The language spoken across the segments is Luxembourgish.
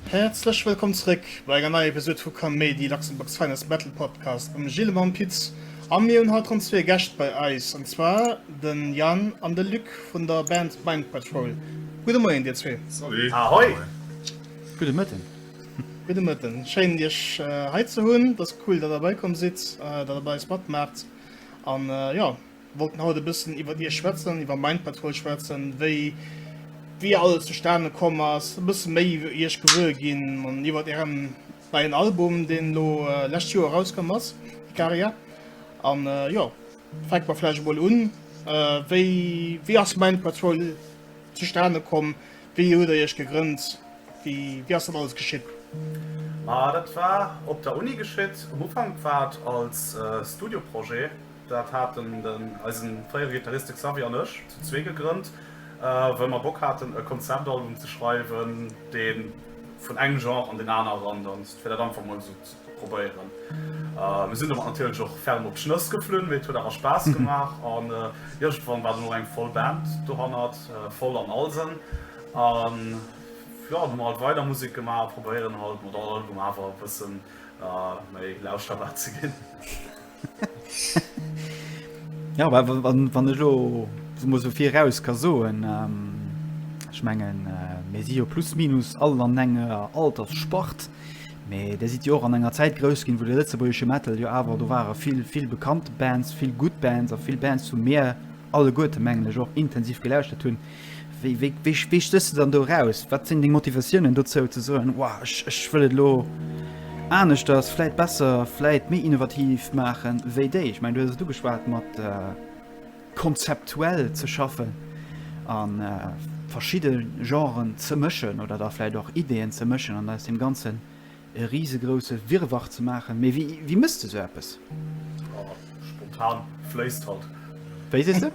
Häerzlech wëllkomm zréck bei enger neier Episode vu Kaméidi, Luxembourg's Finest Battle Podcast mam Gilles a mam Pit. A mir hunn haut ronn zwee Gäscht bei eis, an zwar den Yann an de Luc vun der Band Mind Patrol. Gudde Moien dir zwee. Salut. Ahoi. Gudde Mëtten. Gudde Mëtten, schéin Iech hei ze hunn. Dass cool dat der derbei komm sidd, dat der bei eis matmaacht an jo wollten haut e bëssen iwwert Iech schwätzen, iwwer Mind Patrol schwätzen, wéi wéi alles zustane komm ass, e bësse méi iwwer Iech gewuer ginn an iwwert ären neien Album, deen elo lescht Joer erauskomm ass, Ikaria an jo fänke mer vläicht emol un, wéi wéi ass Mind Patrol zustane komm? Wéi hutt der iech gegrënnt? Wéi ass dat alles geschitt? Ma dat war op der Uni geschitt. Um Ufank war et als Studioprojet. Dat haten den eisen fréiere Gittarist de Xavier an ech zu zwee gegrënnt, wëll mer Bock haten e Konzeptalbum ze schreiwen, deen vun engem Genre an den aneren danzt, fir dat einfach mol esou probéieren. Mir sinn domat natierlech och ferm op d'Schnëss geflunn, mee et huet awer Spaass gemaach an iergendwann war dann och eng voll Band dohannert, voll an all Sënn. An jo, hu mer halt weider Musek gemaach a probéieren halt mat all Album awer e bësse méi lauschterbar ze ginn. Ja wa wann ech lo muss so fir raus ka soen schmengen ähm, mé si jo plus minus all an enger alters sport. Mee der sieht jo och an enger Zäit grous ginn, wou de lëtzebuergesche Metal jo awer do ware vill vill bekannte Bands, vill gutt Bands a vill Bands zu Meer alleguerte mengen ech och intensiv geläuschtert hunn. Wéi stéchs de dann do eraus? Wat sinn deng Motivatiounen dozou ze soen, Wow, ech wëll et elo aneschters, vläit besser, vläit méi innovativ maachen wéi déi? Ech mengen, du hues et ugeschwat mat konzeptuell ze schaffen a verschidde Genren ze mëschen oder da vläit och Ideeën ze mëschen an aus deem Ganzen e risegrousse Wirrwarr ze maachen, mee wéi mëss de sou eppes? Oh, spontan fléisst halt. Wéi sees de?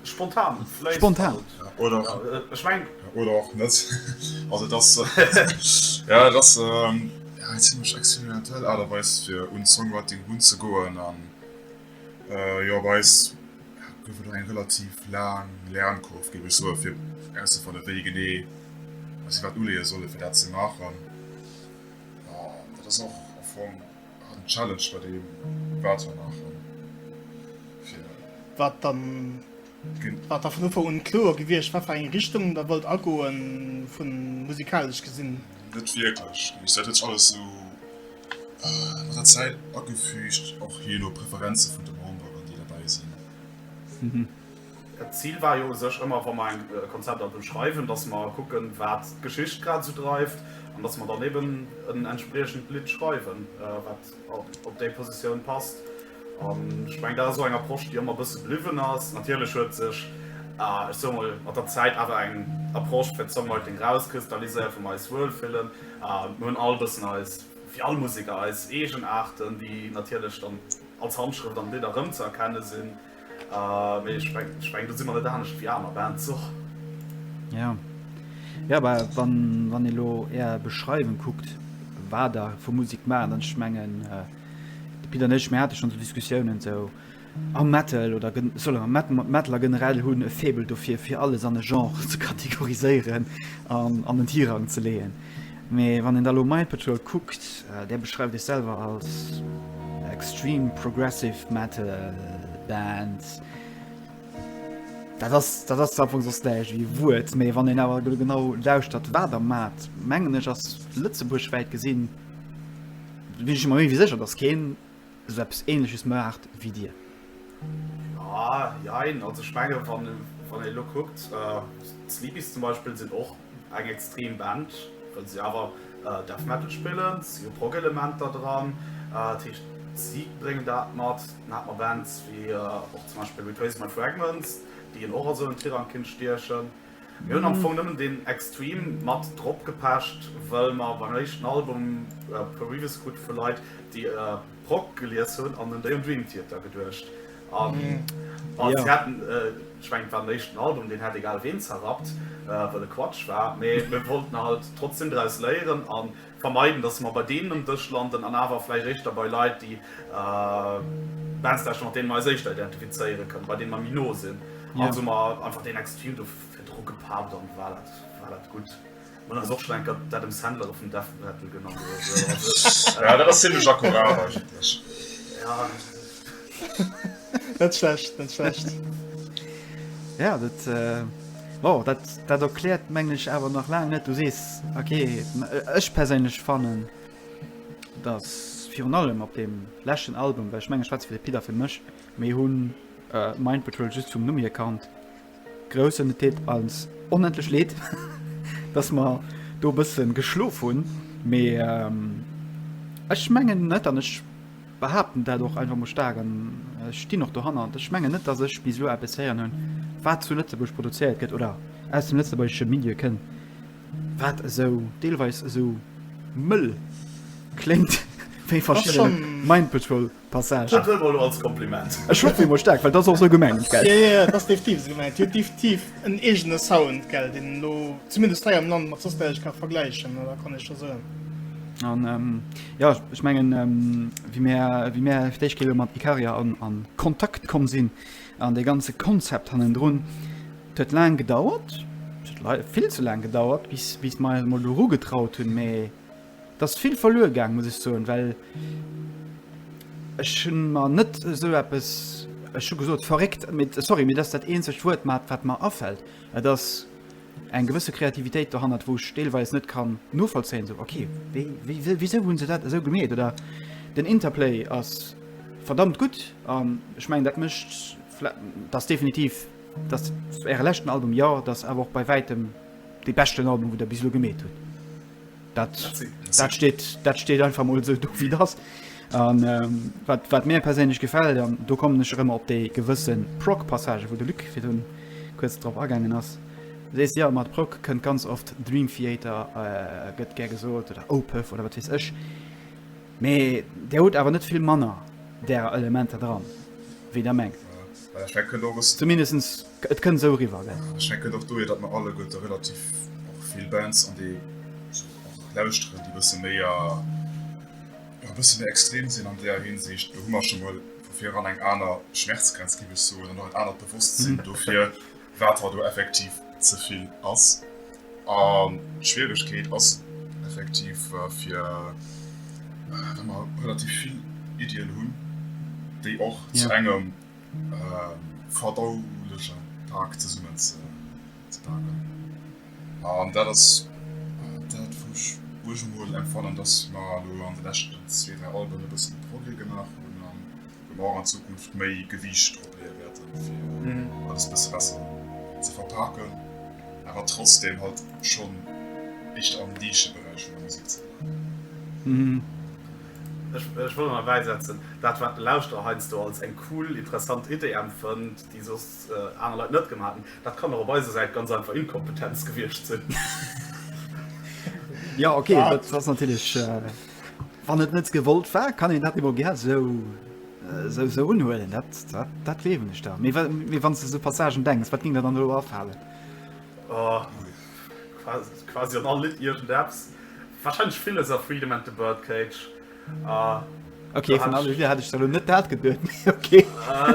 Spontan fléisst halt. Spontan. Ech meng. Oder och net. Also et ass, jo et ass eng zimlech experimentell Aart a Weis fir un d'Songwriting runzegoen. Äh jo, bei eis gouf et och eng relativ laang Lernkurve, géif ech soen, fir erauszefannen, wéi genee dass si wat uleeë sollen, fir dat ze maachen. An dat ass och am Fong en Challenge bei deem, wat mer maachen. Wat dann, war da vun Ufank un kloer gewiescht, wat fir eng Richtung Der wollt agoen, vu musikalesch gesinn? Net wierklech, nämlech dat huet sech alles esou. Mat der Zäit agefüügt, och jee no Preferenze vun de Memberen, déi derbäi sinn. D'Zil war jo u sech ëmmer, wa mer eng Konzepter beschreiwen, dass mer kucken, wat d'Geschicht grad esou dreift an dass mer dann eben en entspriechend Lidd schreiwen, wat op déi Positioun passt. An ech mengen, dat ass och eng Approche, déi ëmmer e bësse bliwwen ass. Natierlech huet sech, ech soe mol, mat der Zäit awer eng Approche fir d'Songwriting erauskristalliséiert, wou mer eis wuelfillen. Mir hunn all bëssen eis, wéi all Museker, eis eegen Aarten, déi natierlech dann als Handschrëft an de Lidder erëmzëerkenne sinn. Mee ech mengen, do si mer net anescht wéi aner Bands och. Jo. Jo, mä wann ee lo Är Beschreiwung kuckt, wat Der vu Musek maachen, dann, ech mengen, de Pit an ech, mir hate schonn esou Diskussiounen, esou, A Metal oder gen, solle mer Met, Metaler generell hunn e Faible dofir, fir alles an e Genre ze kategoriséieren an an en Tirang ze leeën. Mee wann een da elo Mind Patrol kuckt, där beschreift iech selwer als extreme progressive metal Band, dat ass, dat ass amfong soss näischt ewéi e Wuert. Mee wann een awer elo genau lauschtert, wat der maacht, mengen ech, ass Lëtzebuerg wäit gesinn, sinn ech mer méi ewéi sécher, datt keen esou eppes ähnleches maacht wéi dir? Joa, jein, also ech menge wann wann ee elo kuckt, d'Sleepies zum Beispill sinn och eng extrem Band, well si awer Death Metal spillen, si hu Prog-Elementer dran, dat heescht si bréngen dat mat. Dann hat mer Bands wéi och zum Beispill Retrace My Fragments, déi een och a sou en Tirang kinnt stiechen. Mir hun am Fong nemmen den Extreme mat drop gepecht well mer beim eischten Album Previous Good vu Leit déi Prog gelies hun an un déi um Dream Theater geduecht an wann se hätten, ech mengen et war den eischten Album, deen hätt egal ween zerrappt well e Quatsch war, mee mir wollten halt trotzdem draus léieren an Vermeiden, dass mer bei deenen um Dësch landen an awer vläicht éischter bei Leit, déi wennstdescht mat deenen mer eis éischter identifizéiere kënnen, bei deenen mer méi no sinn. Also hu mer einfach dee nächste Film do virdru gepappt an et war dat gutt. Mir hunn eis och schonn eng Kéier d'Adam Sandler do vum Death Metal genannt oder esou. Jo, dat ass zimlech akkurat eigentlech. net schlecht, net schlecht. Ja, dat, äh, wow, dat, dat erklärt mengglech awer nach lang net du sees okay ech perséinlech fannen dat virun allem op dem lächen Album wech menge Schwez fir de Pider fir mech méi hunn äh, mein Patrol just zum Nummi erkannt Groussen et deet eis onendlech leed, dass mer do e bësse geschlof hunn, mee ech mengen net, an ech behaapten dat och einfach mol staark an ech stinn och dohannert, ech mengen net, dass ech bis elo eppes héieren hunn, wat zu Lëtzebuerg produzéiert gëtt oder aus dem lëtzebuergesche Milieu kënn, wat esou deelweis esou mëll kléngt wéi verschidde Mind Patrol. Passage. Dat huele mer elo als Kompliment. Ech hoffen emol staark, well dat ass och esou gemengt, gell? Jo, jo, dat ass definitiv esou gemengt. Déi huet definitiv en eegene Sound, gell, deen een elo zumindest hei am Land mat soss näischt ka vergläichen, oder kann ech jo soen. An jo, ech mengen, wéi mir, wéi mir d'éischt Kéier elo mat Ikaria a Kontakt komm sinn an dee ganze Konzept hannendrun, et huet laang gedauert, vill ze laang gedauert, bis, bis mer eis emol doru getraut hunn, mee. Et ass vill verluer gaang, muss ech soen, well ech hunn mer net esou eppes, ech hu gesot verréckt, mee sorry, mee dat ass dat eenzegt Wuert, mat wat mer afält. Et ass eng gewësse Kreativitéit dohannert, wou ech deelweis net kann novollzéien, esou, ok, wéi, wéi, wisou hu se dat esou gemeet? Oder den Interplay ass verdammt gutt an ech mengen, dat mécht, dat ass definitiv, dat ass Äre leschten Album, jo, dat ass awer och bei wäitem dee beschten Album, wou Der bis elo gemeet hutt. Dat, dat, steht, dat steht einfach mol so do wie das. An ähm, wat, wat mir perséinlech gefällt, an do kommen ech ëmmer op déi gewëssen Proc-Passage, wou de Lück fir hunn kurz drop agängen ass. Sees ja mat Proc kënnt ganz oft Dream Theater äh, gëtt ger gesot oder Opef oder wat wees ech. Mee der huet awer net vill manner der Elementer dran, wéi der mengt. Zumindestens et kënnt esou eriwwer, gell? Ech denken och dohier, datt mer alleguerte och relativ vill Bands an déi och lauschteren, déi e bësse méi, jo e bësse méi extrem sinn an deeër Hinsicht. Do hu mer scho mol vu vireran eng aner Schmerzgrenz, géif ech soen, an och en anert Bewosstsinn dofir. wat hei do effektiv ze vill ass. An d'Schwieregkeet ass effektiv, fir wa mer relativ vill Iddien hunn, déi och zu engem verdauleche Pak zesummenzepaken. An dat ass dat, wou ech uegemol empfannen, dass mer elo an de leschten zwee, dräi Alben e bëssen Progrès gemaach hunn. Wou mer och an Zukunft méi Gewiicht drop leeë wäerten, fir alles e bësse besser ze verpaken, awer trotzdeem halt schonn éischter am Nischeberäich vun der Musek ze bleiwen. Ech wëll nach bäisetzen, dat, wat de Lauschterer heiansdo als eng cool, interessant Idee empfënnt, déi soss aner Leit net gemaach hätten, dat kann och op eiser Säit ganz einfach Inkompetenz gewiescht sinn. Jo, okay, dat ass natierlech. Wann et net gewollt war, kann een dat emol gär sou sou sou unhuelen. Dat, dat, dat gleewen ech da. Mee, mee wann du so Passagen denkst, wat ging der dann do afalen? Oh, quasi an all Lidd irgend eppes. Wahrscheinlich vieles a Freedom and the Birdcage. Uh, okay, vun alle Lieder hat ech da net dat geduet. okay. Uh,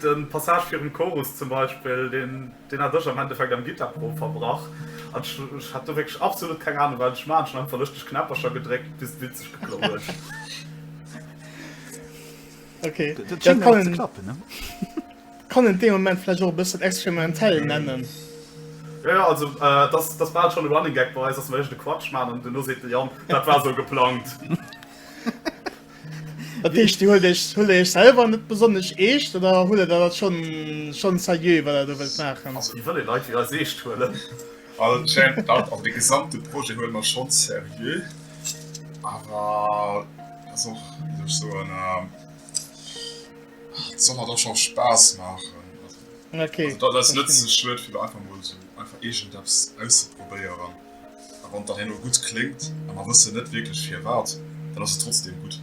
den Passage virun Chorus zum Beispiel, den Deen hat ech am Endeffekt am Gittarprof verbrach an ech hat do wierklech absolut keng Ahnung wat ech maachen. Ech hun einfach lëschteg Knäppercher gedréckt bis d'Lidd sech geplo huet. Okay, dat kann een klappen ne kann een dee Moment vläch och e bëssen experimentell nennen. Jo jo, also et ass et ass bal schon e Running Gag bei eis, dass mer éischt de Quatsch man an duerno seet de Yann, dat war sou geplangt. Dat heescht, Dir huelt Iech, huelt Der Iech selwer net besonnesch eescht oder huelt Der dat dann schonn, schonn seriö, wat Der do wëllt maachen? Also, wéi wëll ee Leit wéi eis eescht huelen? Also, et schéngt mir dat, also dee gesamte Projet huele mer schonn seriö. Awer et ass och, wéi soll ech soen, et soll mer dach och Spaass maachen. Also, dat ass net ze schluet, fir do einfach emol esou einfach iergendeppes auszeprobéieren. A wann dann herno gutt kléngt a mer wëssen net wierklech firwat, dann ass et trotzdeem gutt.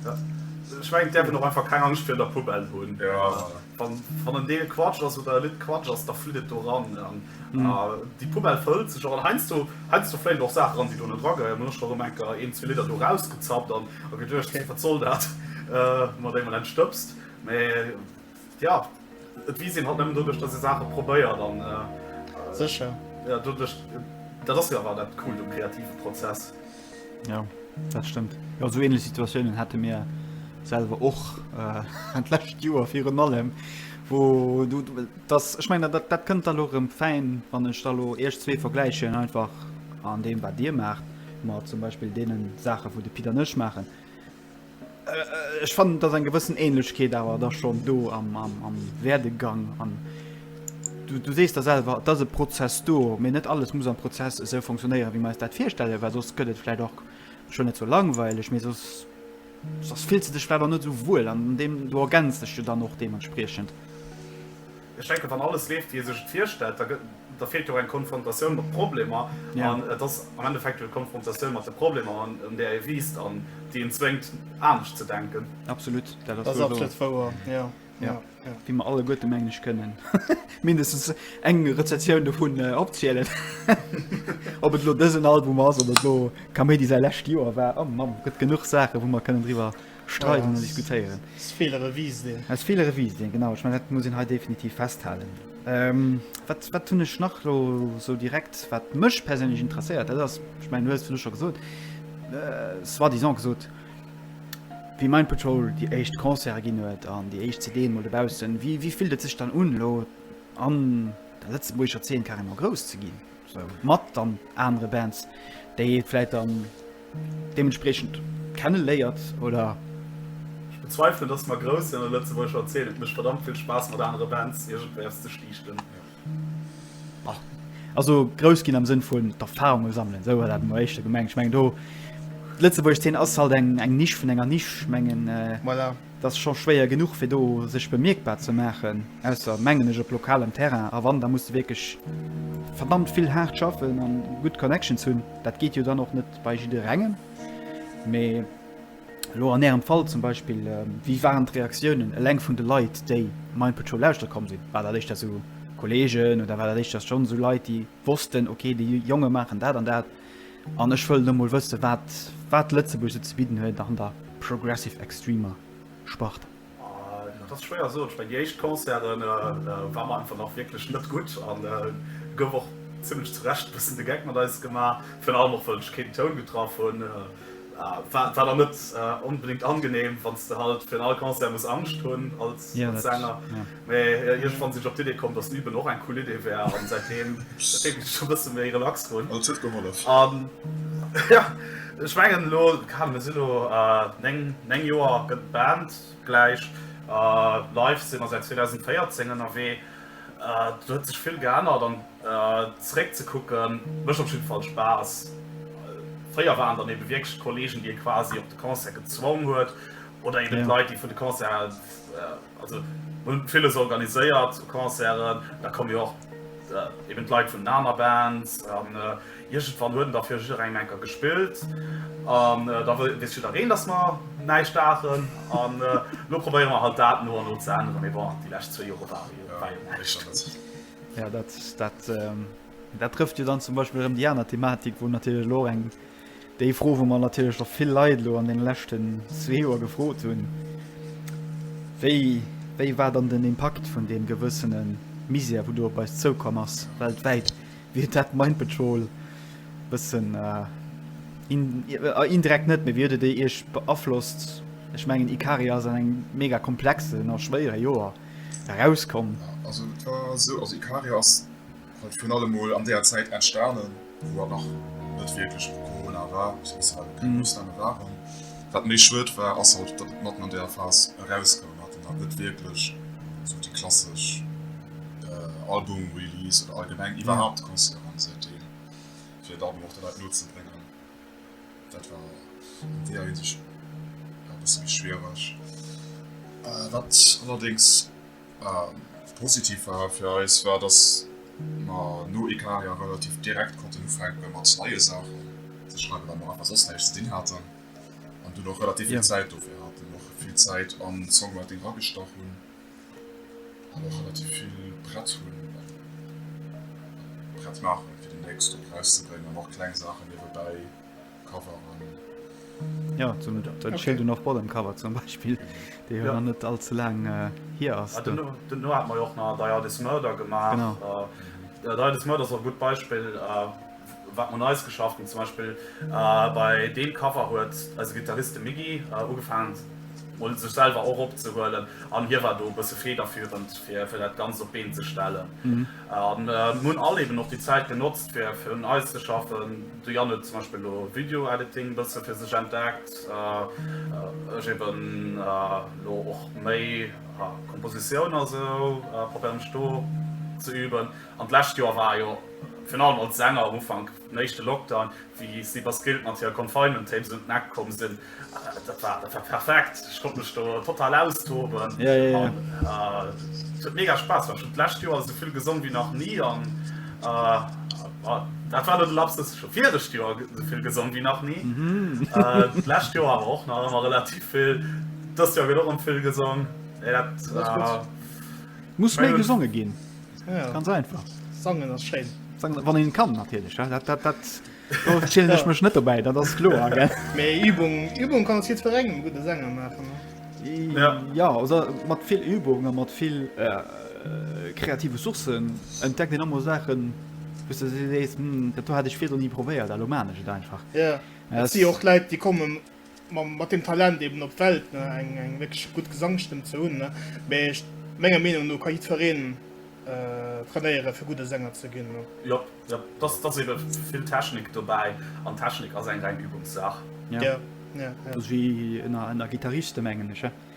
Ech mengen, et däerf een och einfach keng Angscht virun der Poubelle hunn. Wann en Deel Quatsch ass oder e Lidd Quatsch ass, da flitt et do eran. A déi Poubelle fëllt sech och. An heiansdo fléien och Saache eran, déi do net erageheieren. Mir hunn och scho erëm enker een, zwee Lidder do erausgezappt a geduecht, wat soll dat mat engem Len Stëbs. Mä Ja, et wiisst een halt nëmmen doduerch, dass ee Saache probéiert an. Sécher. Ja, doduerch, dat ass jo awer dat Coolt um kreative Prozess. Ja, dat stëmmt. Jo, esou ähnlech Situatiounen hate mir selwer och d'lescht Joer virun allem. Wou du, dass, ech meine, dat, dat kënnt da lo rëm fäin, wann ech da lo iech zwee vergläichen, einfach an deem, wat dir maacht, mat zum Beispill deene Saache, wou de Pit an ech maachen. Ech fannen, et ass eng gewëssen Ähnlechkeet awer da schonn do am, am, am Werdegang an du, du sees da selwer, et ass e Prozess do, mee net alles muss am Prozess esou funktionéieren, wéi mer eis dat virstellen, well soss gëtt et vläicht och schonn net sou langweileg, mee soss, soss fills de dech vläicht och net sou wuel an deem, du ergänz dech jo dann och deementspriechend. Ech denken, wann alles leeft, wéi ee sech et virstellt, da gëtt, da feelt jo och eng Konfrontatioun mat Problemer. An et ass am Endeffekt jo d'Konfrontatioun mat de Problemer, un där ee wiisst an déi een zwéngt, anescht ze denken. Absolut, dat ass absolut wouer, jo. Jo, wéi mer alleguerte, mengen ech, kënnen mindestens eng Rezessioun dovun opzielen. Ob et elo dësen Album ass oder elo Kaméidi säi lescht Joer war, oh Mann, gëtt genuch Saachen, wou mer kënnen driwwer. streiden an diskutéieren. Aus Feeler e Vice dinn. Aus Feeler e Vice dinn, genau. Ech mengen, dat muss een hei definitiv festhalen. Wat, wat hunn ech nach elo esou direkt, wat mech perséinlech interesséiert? Dat ass, ech mengen, du hues et virdu scho gesot, soi-disant gesot, wéi Mind Patrol déi éischt Concerte ginn huet an déi éischt CDen emol dobauss sinn, wéi, wéi fillt et sech dann un, elo an der lëtzebuergescher Zeen carrément grouss ze ginn? Esou mat dann anere Bands, déi ee vläicht dann. deementspriechend kenneléiert oder. Ech bezweifelen dass mer grouss sinn an der Lëtzebuergescher Zeen, et mécht verdammt vill Spaass mat anere Bands iergendwéiers ze stiichten. Also grouss ginn am Sënn vun d'Erfarunge sammelen, esou hat dat mol éischter gemengt. Ech mengen do, d'Lëtzebuerg Zeen ass halt eng Nisch vun enger Nisch, ech mengen. 't ass scho schwéier genuch fir do sech bemierkbar ze maachen, ausser mengen ech op lokalem Terrain, a wann, da muss de wierklech verdammt vill haart schaffen an gutt Connections hunn. Dat geet jo dann och net bei jidderengem, mee elo an ärem Fall zum Beispill, wéi waren d'Reaktiounen eleng vun de Leit déi Mind Patrol lauschteren komm sinn? War dat éischter esou Kollegen oder war dat éischter schonn esou Leit déi wossten, ok, déi Jonge maachen dat an dat? An ech wëllen emol wëssen, wat, wat Lëtzebuerg esou ze bidden huet an der progressive extremer Sparte. Dat ass schwéier sot. Ech mengen, déi éischt Concerte war mer einfach nach wierklech net gutt a gouf och zimlech zu Recht e bëssen de Geck mat eis gemaach. Virun allem och, well ech keen Toun getraff hunn. War dann net onbedéngt angenehm, wann s de halt fir an all Concert muss Angscht hunn als Sänger. Mä iergendwann sinn ech op d'Idee komm, dass Üben och eng cool Idee wär an säitdeem féilen ech e bësse méi relax drun. An et huet gehollef? Jo, ech mengen elo, keine Ahnung, mir sinn elo 9 Joer gëtt d'Band gläich. Live si mer säit 2014 ënnerwee. Do huet sech vill geännert an zeréck ze kucken mécht op jidde Fall Spaass. Fréier waren et dann ebe wierklech d'Kollegen, déi ee quasi op de Concert gezwong huet oder eben d'Leit, déi vun de Concerten Also hun villes organiséiert, sou Concerten, da kommen jo och eben d'Leit vun den aner Bands an iergendwann huet en da fir jidderengem eng Kéier gespillt an da wéisst jiddereen dass mer näischt daachen an lo probéiere mer halt dat no an no ze änneren, mee bon déi lescht zwee Jore war jo näischt. Jo dat trëfft jo dann zum Beispill erëm déi aner Thematik, wou natierlech elo och eng. Déi Fro, wou mer natierlech och vill Leit elo an deene leschten zwee Joer gefrot hunn, wéi, wéi war dann den Impakt vun deem gewëssene Misär, wou do op eis zoukomm ass weltwäit, wéi huet dat Mind Patrol bëssen, indirekt net, mee wéi huet et déi Iech beaflosst? Ech mengen, Ikaria ass an engem mega komplexen a schwéiere Joer erauskomm. Also et war esou, also Ikaria ass Huet virun allem mol an deeër Zäit entstanen, wou et nach net wierklech u Corona war, beziehungsweise keng Ausname waren. Wat méi schued war, ass halt, datt et matten an deeër Phas erauskoum, wat een halt net wierklech esou déi klassesch Album-Release oder allgemeng iwwerhaapt Concert an esou Deel, fir et Album och de Leit no ze bréngen. Dat war an deeër Hinsicht e bësse méi schwiereg. Wat allerdéngs. Positiv war fir eis war, dass mer no ee Carrière relativ direkt konnten ufänke mat neie Saachen ze schreiwen, well mer einfach soss näischt ze dinn haten an dunn och relativ vill Zäit dofir haten, och vill Zäit an d'Songwriting eragestach hunn an och relativ vill prett hunn, prett maachen fir deemnächst och erauszebréngen an och kleng Saachen niewebäi Jo, zum dat Schild un of bottom cover zum Beispill, déi jo nach net all ze laang hier ass. Duerno hate mer jo och nach Die Art Is Murder gemaach. Die Art Is Murder ass och e gutt Beispill, wat mer Neies geschafft hunn. Zum Beispill bei deem Cover huet eise Gittarist, de Miggy, ugefaangen mol sech selwer och opzehuelen an hie war do e bësse federführend fir fir dat Ganzt op d'Been ze stellen. Mir hunn all eeben och déi Zäit genotzt fir fir un eis ze schaffen. De Yann huet zum Beispill elo Video Editing e bësse fir sech entdeckt, ech eben elo och méi Kompositioun a sou probéiere mech do ze üben. An d'lescht Joer war jo virun allem als Sänger um Ufank den éischte Lockdown, wéi Cyber Skilled mat hire Confinement Tapes un d'Neck komm sinn. Dat war dat war perfekt. Ech konnt mech do total austoben. Ja, ja, ja. Et huet mega Spaass gemaach. Ech hunn d'lescht Joer esou vill gesongen, wéi nach ni. An dat war elo de Lapsus, ech hu virecht Joer esou vill gesongen, wéi nach ni. D'lescht Joer awer och nach ëmmer relativ vill. Dëst Joer gëtt och ëm vill gesong. Et muss méi gesonge ginn. Ganz einfach. Sangen ass schéin. Sangen, wann een kann natierlech, dat, dat, dat. Do zielen ech mech net dobäi, dat ass kloer, gell? Mee Übung, Übung kann aus jiddwerengem e gudde Sänger maachen, ne? Ja. Ja, also mat vill Übung a mat vill kreative Sourcen entdeckt een ëmmer Saachen, wou s de sees, Hm, dat do hat ech virdru ni probéiert, elo maachen ech et einfach. Jo, et si jo och Leit, déi kommen mat dem Talent eben op d'Welt ne eng eng wierklech gutt Gesangstëmm ze hunn ne, mee ech menger Meenung no ka jiddfereen trainéiere fir gudde Sänger ze ginn ne. Jop jop dass dass eben vill Technik dobäi an Technik ass eng reng Übungssaach. Ja ja ja. Dass wi ënner ënner Gitarriste mengen ech he.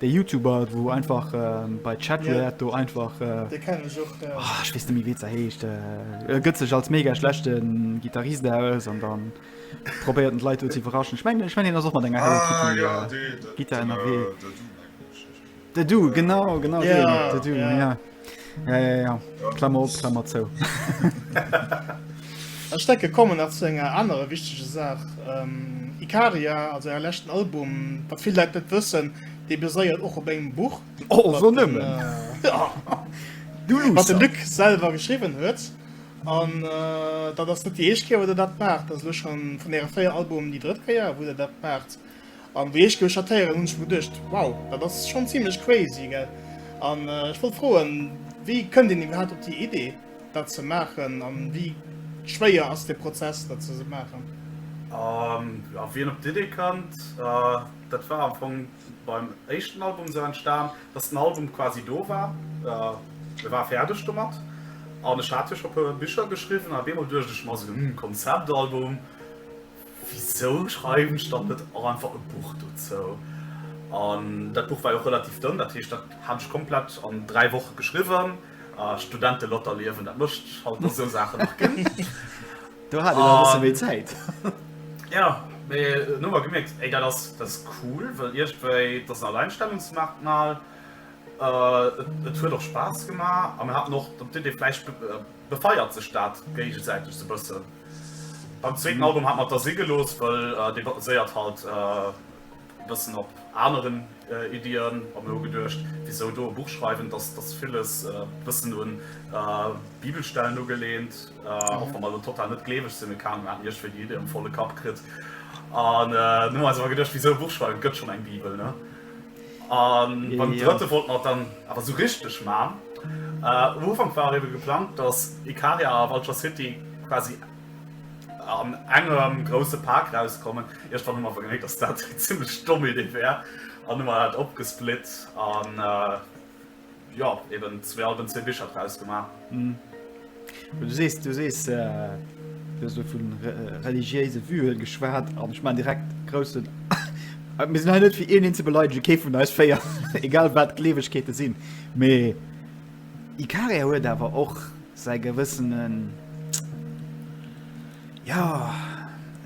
Dee Youtuber wou einfach bei Chatwert do einfach ech weess net méi wéi ze heescht, e gëtt sech als mega schlechte Gitarrist aus an dann probéiert en d'Leit do ze iwwerraschen. Ech mengen ech mengen hien ass och mat enger Hello Kitty Gittar ënnerwee. De Dude, genau, genau deen, de Dude, jo. Ja, ja, ja. Klammer op, Klammer zou. Ech denke kommen nach zu enger anerer wichtege Saach. Ikaria, also äre leschten Album, wat vill Leit net wëssen, dee baséiert och op engem Buch, wat de Luc selwer geschriwwen huet. An dat ass net déi éischt Kéier, wou der dat maacht. Dat ass elo scho vun äre véier Albumen déi drëtt Kéier, wou der dat maacht. An déi éischt Gauchateieren hunn ech mer geduecht, wow, dat ass schonn zimlech crazy, gell? An ech wollt froen, wéi kënnt een iwwerhaapt op déi Idee, dat ze maachen? An wéi schwéier ass dee Prozess, dat ze maachen? A wien op d'Idee kënnt, dat war am Fong beim éischten Album esou entstan, dass den Album quasi do war, e war fäerdeg domat. An ech hat jo scho e puer Bicher geschriwwen. An op eemol duecht ech mer esou, hm, Konzeptalbum, Wisou schreiwen ech dann net och einfach e Buch dozou? An dat Buch war jo och relativ dënn, dat heescht, dat hat ech komplett an dräi Woche geschriwwen. Studentelotterliewen, dat mécht halt mat esou Saachen nach ginn. Do hat een nach e bësse méi Zäit. Jo, mee dunn hu mer gemierkt, Ey, dat ass, dat ass cool, well iergendwéi, et ass en Alleinstellungsmerkmal, et huet och Spaass gemaach a mir haten och dann d'Iddi, vläicht. befeiert sech dat géigesäiteg sou bëssen. Beim zweeten Album hat mer et da si gelooss, wëll dee baséiert halt bëssen op aneren Iddien a mir hu geduecht, wisou do e Buch schreiwen, dass dass villes bëssen un Bibelstellen ugelehnt, och wa mer elo total net gleeweg sinn, mee keng Ahnung, mir haten iergendwéi déi Iddi am volle Kapp kritt an hunn eis awer geduecht, wisou e Buch schreiwen, et gëtt schonn eng Bibel, ne? An beim drëtte wollt mer dann awer sou richteg man. Um Ufank war ebe geplangt, datt Ikaria a Vulture City quasi an engem grousse Pak rauskommen. Iergendwann hu mer awer geméit, datt dat eng zimlech domm Idee wär an hu mer dat opgesplit. Jo, eben zwee Alben, zwee Bicher draus gemaach. Hm. Du sees, du sees, äh, du hues vu religiéise Vue geschwat an ech man direkt groussen. Mir sinn hei net fir een ze beleidege, kee vun eis féier, egal wat d'Gleewegkeete sinn. Mee Ikaria huet awer och säi gewëssenen. Ja,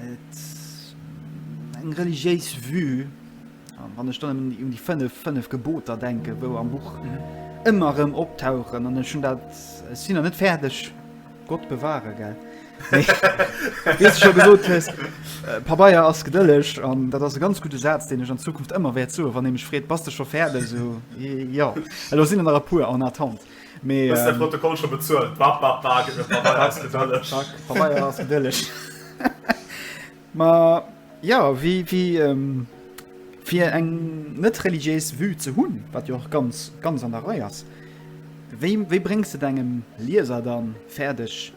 et eng religiéis Vue. Wann ech dann un déi fënnef, fënnef Geboter denken, wou am Buch ëmmer erëm optauchen, an ech hunn dat, ech sinn nach net fäerdeg, Gott bewahre, gell, wéi s de scho gesot hues, Pabeier ass gedëlleg. An dat ass e ganz gudde Saz, deen ech an Zukunft ëmmer wäert soen, wann ee mech freet, Bass de scho fäerdeg? Esou, Jo, elo sinn der nach e puer en attente, mee. Hues de de Protokoll scho bezuelt? Bap, bap, bap, Pabeier ass gedëlleg. Pabeier ass gedëlleg. Ma jo, fir eng net religiéis Vue ze hunn, wat jo och ganz ganz an der Rei ass, wéi bréngs de dengem Lieser dann fäerdeg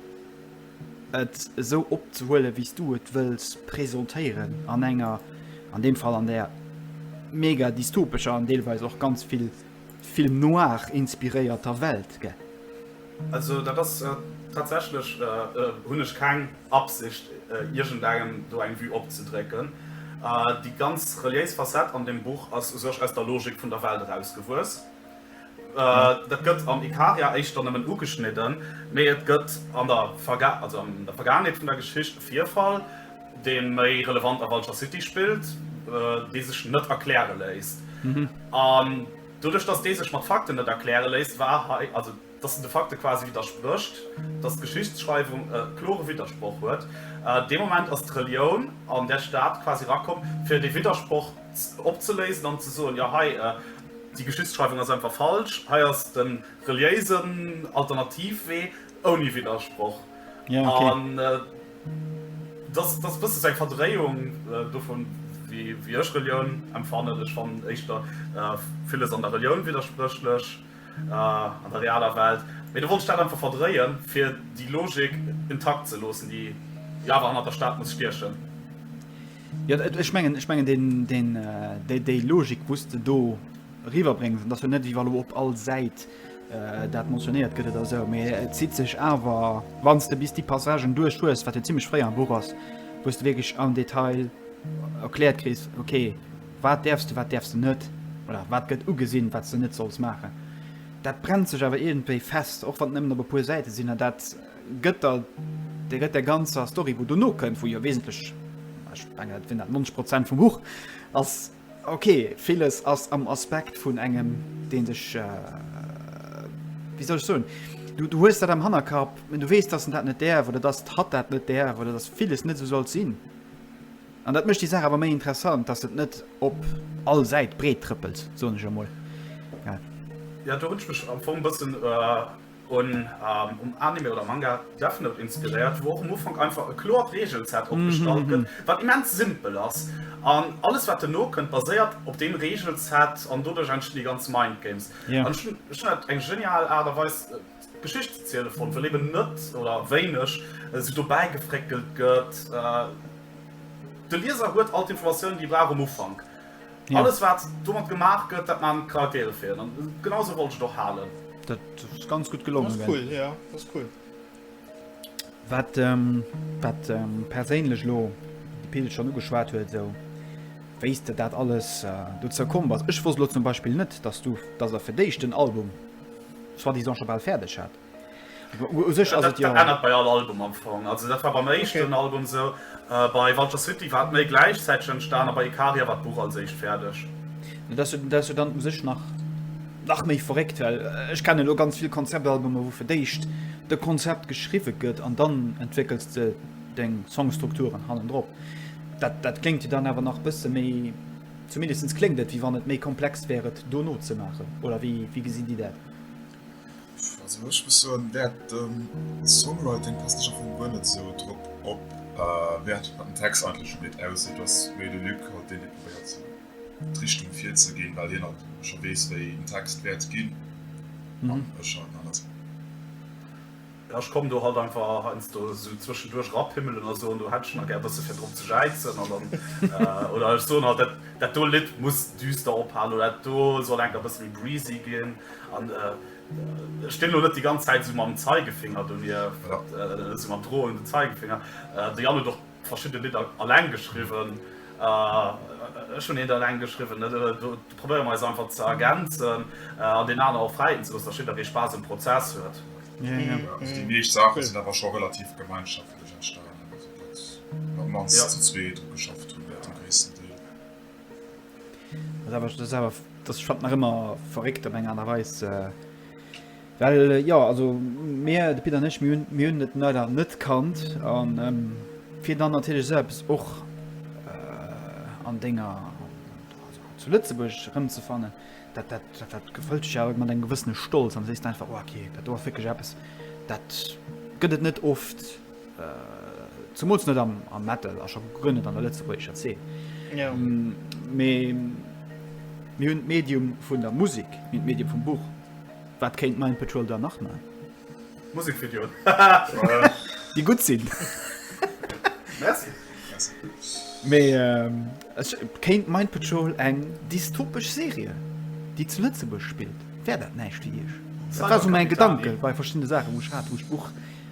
et esou opzehuelen, wéi s du et wëlls presentéieren an enger, an deem Fall an där mega dystopescher an deelweis och ganz vill Film noir inspiréierter Welt gett. Also dat ass tatsächlech, hunn ech keng Absicht iergendengem do eng Vue opzedrécken. Déi ganz reliéis Facette an deem Buch ass u sech aus der Logik vun der Welt erausgewuess. Dat gëtt am Ikaria éischter nëmmen ugeschnidden, mee et gëtt an der Vergaangenheet vun der Geschicht e Virfall, dee méi relevant a Vulture City spillt, dee sech net erkläre léisst. An doduerch, dass dee sech mat Fakten net erkläre léisst, war hei, also dass en de Fakte quasi widdersprécht, dass d'Geschichtsschreiwung e klore Widdersproch huet, dee Moment ass d'Relioun an där Stad quasi erakomm, fir dee Widdersproch opzeléisen an ze soen, jo hei, déi Geschichtsschreiwung ass einfach falsch, hei ass de reliéisen Alternativwee ouni Widdersproch. An Et ass e bëssen eng Verdréiung dovun, wéi ech Relioun empfannen. Ech fannen éischter villes an der Relioun widderspréchlech, an der realer Welt. Mee do wollt ech dat einfach verdréien, fir déi Logik intakt ze loossen, déi jo awer hannert der Stad muss stiechen. Jo, ech mengen, déi Logik, wou s de do eriwwerbréngs, dat ass jo net, wéi wa lo op all Säit Dat mentionnéiert gëtt et a sou, mee et zitt sech awer, wann s de bis déi Passagen duerch hues, wat jo zimmlech fréi am Buch ass, wou s de wierklech am Detail erkläert kriss, ok, wat däerfs de, wat däerfs de net, oder wat gëtt ugesinn, wat s de net solls maachen. Dat brennt sech awer iergendwéi fest, och wann et nëmmen op e puer Säite sinn, an dat gëtt der, dat gëtt där ganzer Story, wou dono kënnt, wou jo wesentlech, ech mengen, dat sinn dat 90 Prozent vum Buch ass, Ok, villes ass am Aspekt vun engem, deen sech, wéi soll ech soen, du hues dat am Hannerkapp, du weess, dass en dat net däerf oder dass hatt dat net däerf oder dass villes net esou sollt sinn. An dat mécht déi Saach awer méi interessant, dass et net op all Säit breettrëppelt, soen ech emol. Ja, do hunn ech mech am Fong e bëssen. Hunn um Anime oder Manga Death Note inspiréiert, wou och um Ufank einfach e kloert Reegelset opgestallt gëtt, wat immens simpel ass. An alles wat duerno kënnt baséiert op deem Reegelset an doduerch entstinn déi ganz Mind Games. An ech hunn dat eng genial Aart a Weis d'Geschicht ze ziele fonnt, well eben net, oder wéineg, sou dobäi gefréckelt gëtt. De Lieser huet all d'Informatiounen déi e brauch um Ufank. Alles wat domat gemaach gëtt dat maan d'Charaktere fir een an genau sou wollt ech et och haalen. Dat ass ganz gutt gelongen. Dat ass cool, jo dat ass cool. Wat wat perséinlech elo de Pil schonn ugeschwat huet esou wéis de dat alles dozou komm bass. Ech wosst elo zum Beispill net dass du dass der fir d'éischt den Album soi-disant scho bal fäerdeg hat. U sech ass et jo. Dat ännert bei all Album am Fong. Also dat war beim éischten Album esou. Bei Vulture City war et méi gläichzäiteg entstan a bei Ikaria war d'Buch als éischt fäerdeg. Dat ass jo dann u sech nach méi verréckt, well ech kennen elo ganz vill Konzeptalbumer, wou fir d'éischt de Konzept geschriwwe gëtt an dann entwéckels de deng Songstrukturen hannendrop. Dat kléngt jo dann awer nach e bësse méi, zumindest kléngt et, wéi wann et méi komplex wär et do nozemaachen. Oder wéi gesinn Dir dat? Also ech muss soen Wäert den Songwriting passt ech am Fong guer net sou drop op. Wäert wat den Text eigentlech ugeet aussi et ass méi de Luc haut deen dee probéiert sou d'Richtung virzeginn, well hien alt scho weess wéi en Text wäert ginn an ech halt en anescht. Ech komm do halt einfach heiansdo esou zwëschenduerch rappimmelen a soen, do hätt ech nach gär e bësse fir drop ze jäizen. Oder ech soen halt, dat do Lidd muss düster ophalen oder dat do soll enk e bësse méi breezy ginn. An ech stinn elo net déi ganz Zäit esou mam Zeigefinger donier, esou mam droende Zeigefinger. De Yann huet och. Verschidde Lidder alleng geschriwwen, ech hunn eent alleng geschriwwen, do probéiere mer eis einfach ze ergänzen an deen aner och fräien ze loossen, datt jidderee Spaass um Prozess huet. Déi meescht Saache sinn awer scho relativ gemeinschaftlech entstanen, also datt mer op d'mannst zu zwee dru geschafft hunn, dat am gréissten Deel. Dat ass awer, ech fannen et nach ëmmer verréckt op eng Aart a Weis, Well jo, also mir, de Pit an ech, mir hunn et leider net kannt. A fir dann natierlech esou eppes och an denger, also zu Lëtzebuerg erëmzefannen, dat, dat, dat gefëllt dech awer mat engem gewëssene Stolz an sees einfach, oh okay, dat do ass wierklech eppes, dat gëtt et net oft, zemools net am Metal a scho guer net an der lëtzebuergescher Zeen. Jo. Mee mir hunn d'Medium vun der Musek, mir hunn d'Medium vum Buch. Wat kéint Mind Patrol dann nach man? Musikvideoen déi gutt sinn. Merci. Mee kéint Mind Patrol eng dystopesch Serie déi zu Lëtzebuerg spillt, wär dat näischt fir Iech? Dat war sou mäi Gedanke bei verschiddene Saachen wou ech hat wou ech d'Buch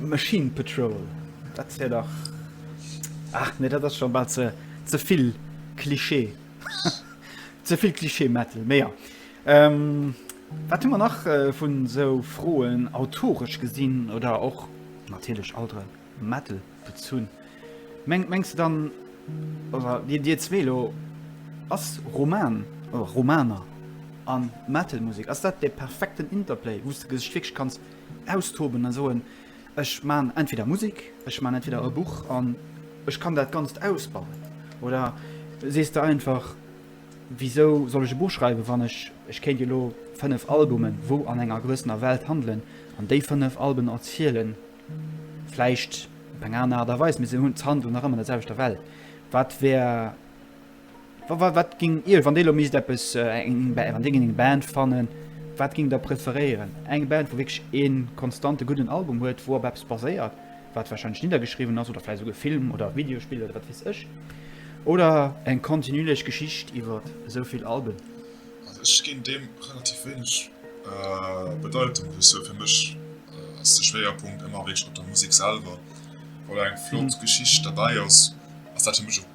Machine Patrol, dat wär dach, ach nee, dat ass scho bal ze ze vill Klischee. ze vill Klischee Metal, méi ja. Ähm, wat hu mer nach äh, vun sou Froen autoresch gesinn oder och natierlech alter Metal bezunn? Meng, mengst du dann, oder Dir, Dir zwee lo, ass Roman, oder Romaner an Metal Musek, ass dat de perfekten Interplay, wou du sech wierklech kanns Austoben a soen, ech man entweder Musik, ech man entweder e Buch an ech kann dat Ganzt ausbauen? Oder sees de einfach, wisou soll ech e Buch schreiwen, wann ech, ech kéint jo elo 5 Albumen, wou an enger gewëssener Welt handelen, an déi 5 Alben erzielen vläicht op eng aner Aart a Weis, mee se hunn, d'handelen nach ëmmer an der selwechter Welt. Wat wär. Wat ging Iech, wann Dir elo misst eppes, eng Band, wann Dir géingt eng Band fannen, wat géingt Der preferéieren? Eng Band, wou wierklech ee konstante gudden Album huet, wou op eppes baséiert, wat warscheinlech niddergeschriwwen ass, oder vläicht esouguer e Film oder e Videospill oder wat weess ech? Oder eng kontinuierlech Geschicht iwwer esou vill Alben? Also ech ginn deem relativ wéineg Bedeitung, wéi esou. Fir mech ass de Schwéierpunkt ëmmer wierklech op der Musek selwer. Wa eng flott Geschicht derbäi ass, ass dat fir mech ok.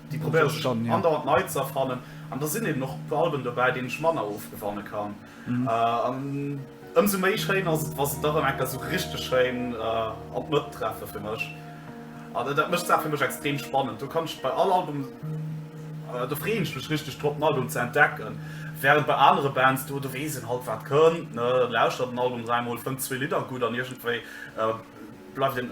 Déi probéiere sech andauernd nei ze erfannen an da sinn eben och e puer Alben dobäi, deenen ech manner ofgewanne kann. An ëmsou méi schéin ass et, wa se da rëm eng Kéier esou richteg schéin an d'Mëtt treffe fir mech. An dat mécht d'Saach fir mech extrem spannend. Do kann ech bei all Album, do freeën ech mech richteg drop, en Album ze entdecken. Während bei anere Bands, do weess een halt, wat kënnt, lauschtert en Album dräimol, fënnt zwee Lidder gutt an iergendwéi bleift een.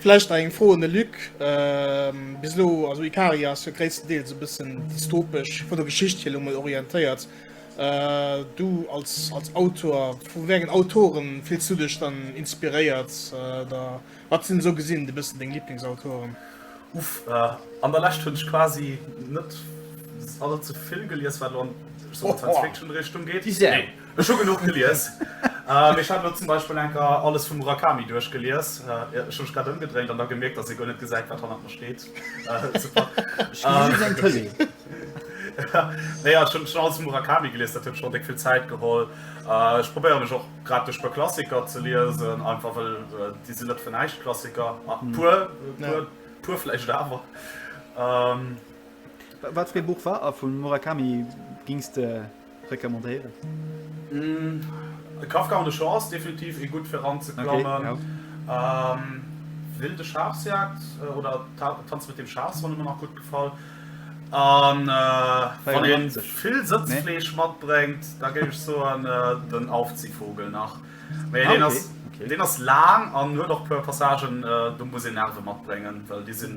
Vläicht nach eng Fro un de Luc. Bis elo, also Ikaria ass jo gréisstendeels e bëssen dystopesch, vun der Geschicht hier elo mol, orientéiert. Du als als Autor, vu wéi engen Autoren fills du dech dann inspiréiert? Oder wat sinn esou gesinn e bëssen deng Liblingsautoren? Uff, an der Lescht hunn ech quasi net allze vill gelies, wat elo an Science-Fiction-Richtung geet. Ech hu genuch gelies. Mee ech hat elo zum Beispill enker alles vum Murakami duerchgelies. Ech hu mech grad ëmgedréint an da gemierkt, datt ee guer net gesäit, wat hannert mer steet. Naja, ech hunn schonn alles vum Murakami gelies, dat huet mech schonn déck vill Zäit geholl. Ech probéiere mech och grad duerch e puer Klassiker ze liesen, einfach well déi sinn net fir näischt Klassiker. E puer, e puer vläicht awer. Wat fir ee Buch war vum Murakami gings de? Recommandéieren? Kafka an de Shaw ass definitiv ee gutt fir eranzeklammen. Wilde Schafsjagd oder Tanz mit dem Schaf soll mer nach gutt gefallen. An wann ee vill Sëtzfleesch matbréngt, da géif ech soen Den Aufziehvogel nach. Mee deen ass, deen ass laang an huet och e puer Passagen, do muss een Nerve matbréngen, well déi sinn.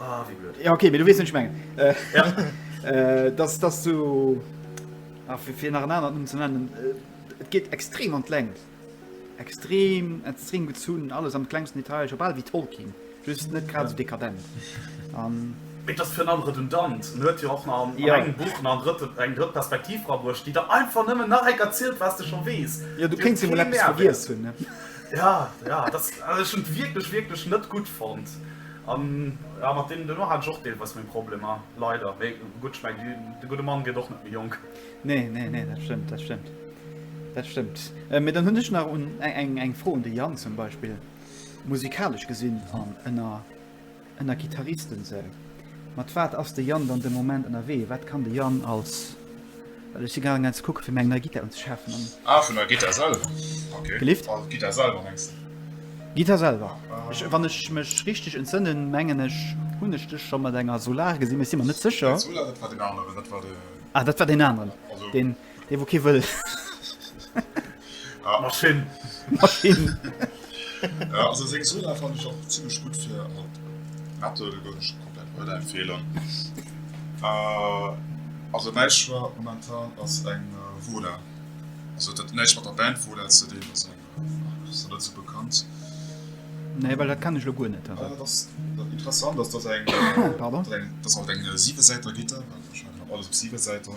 Ah, wie blöd. Ja, okay, du wees nicht mengen. Äh, ja. äh, dass, dass du. Ah, für, für nach anderen um zu nennen. Äh, es geht extrem an Längt. Extrem, extrem gezun, alles am kleinsten Detail, schon bald wie Tolkien. Just nicht gerade so dekadent. Um, Et das für andere redundant hört ja auch nach an ja. engem Buch nach dritte, eng dritt Perspektiv rabrucht, die da einfach nëmmen nach eng erzielt, was du schon wees. Ja du kennst immer vergiss hun. Ja, ja, das also schon wirklich wirklich net gut fand. An jo, mat deem duerno hat ech och deelweis meng Problemer, leider. Mee gutt, ech mengen, de gudde Mann gëtt och net méi jonk. Nee, nee, nee, dat stëmmt, dat stëmmt. Dat stëmmt. Mee dann hunn ech nach un eng, eng Fro un de Yann zum Beispill. Musikalesch gesinn an ënner, ënner Gittaristen, sou, mat wat ass de Yann dann de Moment ënnerwee? Wat kann de Yann als. Well ech si gaangen eent ze kucken fir mir eng nei Gittar unzeschafen an. Ah vun der Gittar selwer, ok. Gelift? Also d'Gittar selwer mengs de? D'Gittar selwer. Ech, wann ech mech richteg entsënnen, mengen ech hunn ech dech scho mat enger Solar gesinn, mee ech si mer net sécher. Net Solar, dat war deen aneren, dat war de. Ah dat war deen aneren, deen dee wou kee wëll. Ah, mat Finn. Mat Finn. Ja, also seng Soda fannen ech och zimmlech gutt fir mat Metal, gouf ech komplett weiderempfeelen. Also mäi Choix momentan ass eng Voda, also et huet näischt mat der Band Voda ze dinn, also ass nach net sou bekannt. Nee, well dat kennen ech elo guer net. Ah, dat ass interessant, dass dat eng, pardon, dass dat eng siwesäiter Gittar war, wahrscheinlech alles op siwe Säiter.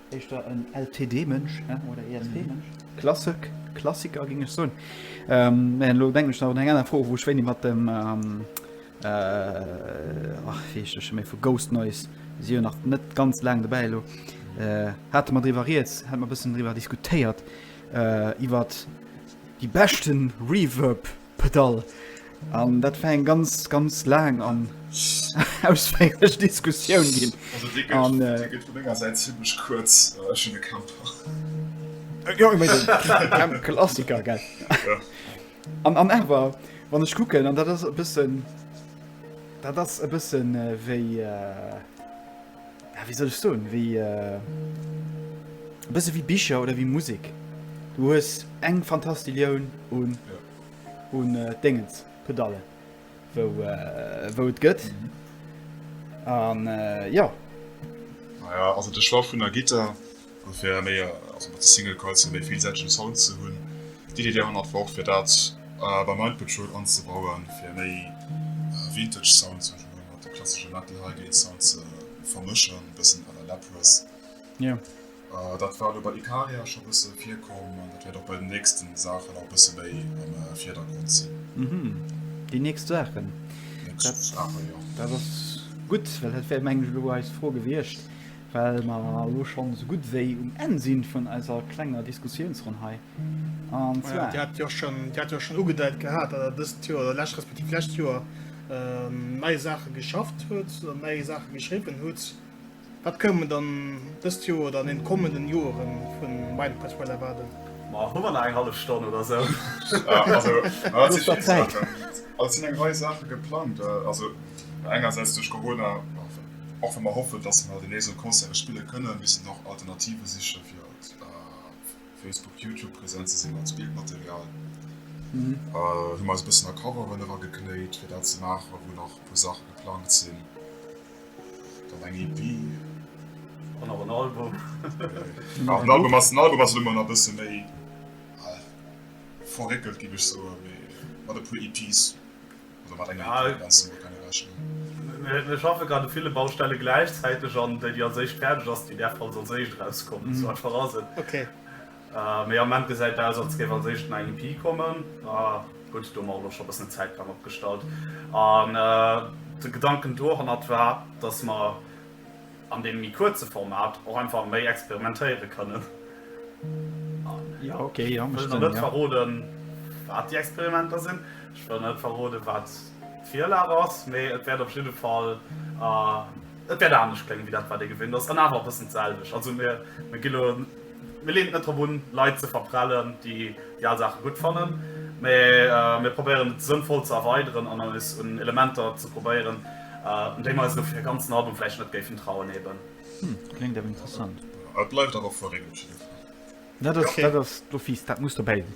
Éischter en LTD-Mënsch oder ESP-Mënsch. Klassik, Klassiker géing ech soen. Mä elo denken ech nach un eng aner Fro, wou ech wéini mat dem, ach wéi heescht dee scho méi, vu Ghost Noise, déi si jo nach net ganz laang dobäi elo, hate mer driwwer rieds, hate mer e bëssen driwwer diskutéiert, iwwer déi beschten Reverb. Pedall. An dat war eng ganz, ganz laang an ausféierlech Diskussioun ginn. Also dee gëtt, an, dee gëtt vun menger Säit zimlech kuerz. Ech hunn e Camper. Jo, ech mengen, Klassiker, gell? Jo. An, an awer, wann ech kucken, an dat ass e bëssen, dat ass e bëssen wéi. ja wéi soll ech soen, wéi e bësse wéi Bicher oder wéi Musek. Du hues eng Fantastillioun un un Déngens, Pedallen, wou wou et gëtt an jo. Naja, also de Choix vun der Gittar, An fir méi, also mat de Single Coils fir méi villsäitegen Sound ze hunn. D'Iddi der hannert war och fir dat beim Mind Patrol anzebauen, fir méi Vintage Sound ze hunn, mat de klassesche Metal Highgate Sound ze vermëschen, bëssen à la Lapworth. Dat war elo bei Ikaria scho bësse virkomm an dat wäert och bei den nächsten Saachen nach e bësse méi am Virdergrond sinn. Déi nächst Saachen, dat ass gutt, well dat wär mengen ech elo eis Fro gewiescht. Well mer elo schonn esou gutt wéi um Enn si vun eiser klenger Diskussiounsronn hei, an zwar. Dir hat jo schonn ugedeit gehat, datt Der dëst Joer, oder d'lescht respektiv d'lescht Joer, nei Saache geschafft hutt, nei Saache geschriwwen hutt. Wat kënnen mer dann dëst Joer oder an deene kommenden Joere vu Meinung Pastoral erwaarden? Ma hu mer nach eng hallef Stonn oder esou? Also, et si vill Saachen, also et sinn eng Rei Saache geplangt, also engersäits duerch Corona. Och wa mer hoffen, dass mer deemnächst och Concerte spille kënnen, misst een och Alternative siche fir op Facebook, Youtube präsent ze sinn. Als Bildmaterial hu mer eis e bëssen a Coveren erageknéit, fir dat ze maachen, wou nach e puer Saache geplangt sinn. Dann eng EP. An och en Album. Jo, den Album ass elo mol nach e bësse méi verréckelt, géif ech soen, mee mat e puer EPs. Mir schaffe grad u ville Baustelle gläichzäiteg an déi, déi als éischt fäerdeg ass, déi däerf als als éischt erauskommen. Esou einfach ass et. Mee am Moment gesäit aus, als géif als éischt den IMP kommen. Gutt, do hu mer och elo scho e bëssen e Zäitplang opgestallt. An de Gedanken dohannert war, dass mer, an deem méi kuerze Format och einfach méi experimentéiere kënnen. Ech wëll nach net verroden, wat déi Experimenter sinn, ech wëll net verroden, wat d'Virlag ass, mee et wäert op jidde Fall, et wäert anescht kléngen, wéi dat, wat ee gewinnt ass, an awer e bëssen d'selwecht. Also mir gi elo. Mir leeën et net drop un, Leit ze verprellen, déi déi al Saache gutt fannen, mä mir probéieren et sënnvoll ze erweideren an eis un Elementer ze probéieren, un déi mer eis elo fir e ganzen Album vläicht net géifen trauen eben. Hm, kléngt awer interessant. Et bleift awer vu Regelcheef. Dat ass d'Office, dat muss dobäi sinn.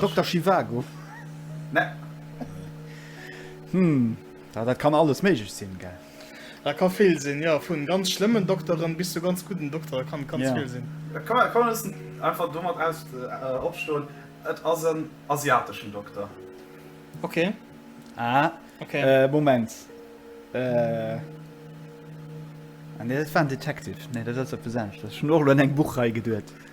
Dokter Zhivago? Nee. Hm, dat kann alles méiglech sinn, gell? Dat ka vill sinn, jo. Vu ganz schlëmmen Dokteren bis zu ganz gudden Doktere ka ganz vill sinn. Et ka een loossen einfach domat opstoen, et ass en asiateschen Dokter. Ok. Ah, Moment. Nee, dat war en Detective. Nee, dat ass eppes anescht. Ech hunn och elo un eng Buchrei geduet.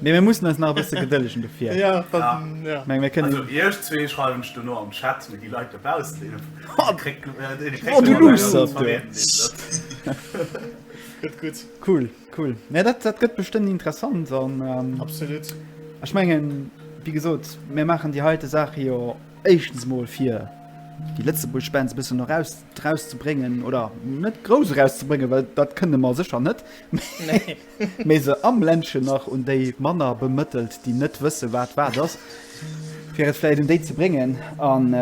Mee mir mussen eis nach e bësse gedëllegen dofir. Ja, ja. Meng, mir kënnen. Also iech zwee schreiwen ech dono am Chat, mee déi Leit dobaussen, dee kréckt de Wert deen e kréckt. Oh, du luuschtert, du! Gëtt gutt. Cool, cool. Mä dat, dat gëtt bestëmmt interessant an. Absolut. Ech mengen, wéi gesot, mir maachen déi heite Saache jo éischtens mol fir déi Lëtzebuerg Bands e bëssen eraus, erauszubréngen oder net grouss erauszubréngen, well dat kënne mer sécher net. Nee. Mee se am Ländchen nach un déi manner bemëttelt, déi net wësse wat wat ass, fir et vläicht un déi ze bréngen. An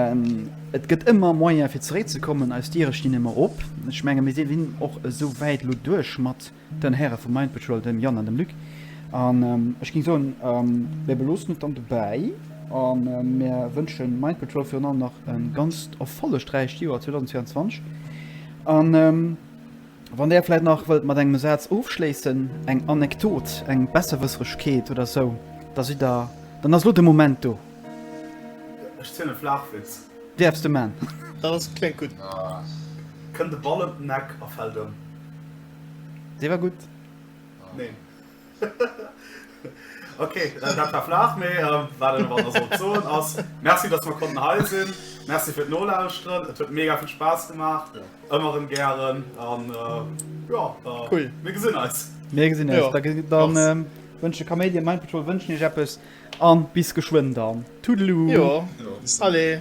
et gëtt ëmmer Moyen fir zeréckzekommen. Eis Diere stinn ëmmer op. Ech menge mir sinn och esou wäit elo duerch mat den Häre vum Mind Patrol, dem Yann an dem Luc. An ech géing soen, mir beloossen et dann dobäi a mir wënsche Mind Patrol virun allem nach e ganzt erfollegräicht Joer 2024. An. Wann Där vläit nach wëllt mat engem Saz ofschléissen, eng Anekdot, eng Besserwësseregkeet oder sou, da sidd Der, dann ass elo de Moment do. Ech zielen e Flaachwitz. Däerfs de man. Dat ass, kléngt gutt. Kënnt e Ball ëm den Eck a fält ëm. Dee war gutt. Neen. Ok, dat war flach, mee wat een och awer sollt soen ass, Merci dass mer konnten hei sinn, Merci fir d'Nolauschteren, et huet mega vill Spaass gemaach, ëmmer erëm gären an jo, mir gesinn eis. Mir gesinn eis, dann wënschen Kaméidi an Mind Patrol wënschen iech eppes an bis geschwënn dann. Toodaloo. Jo, allez.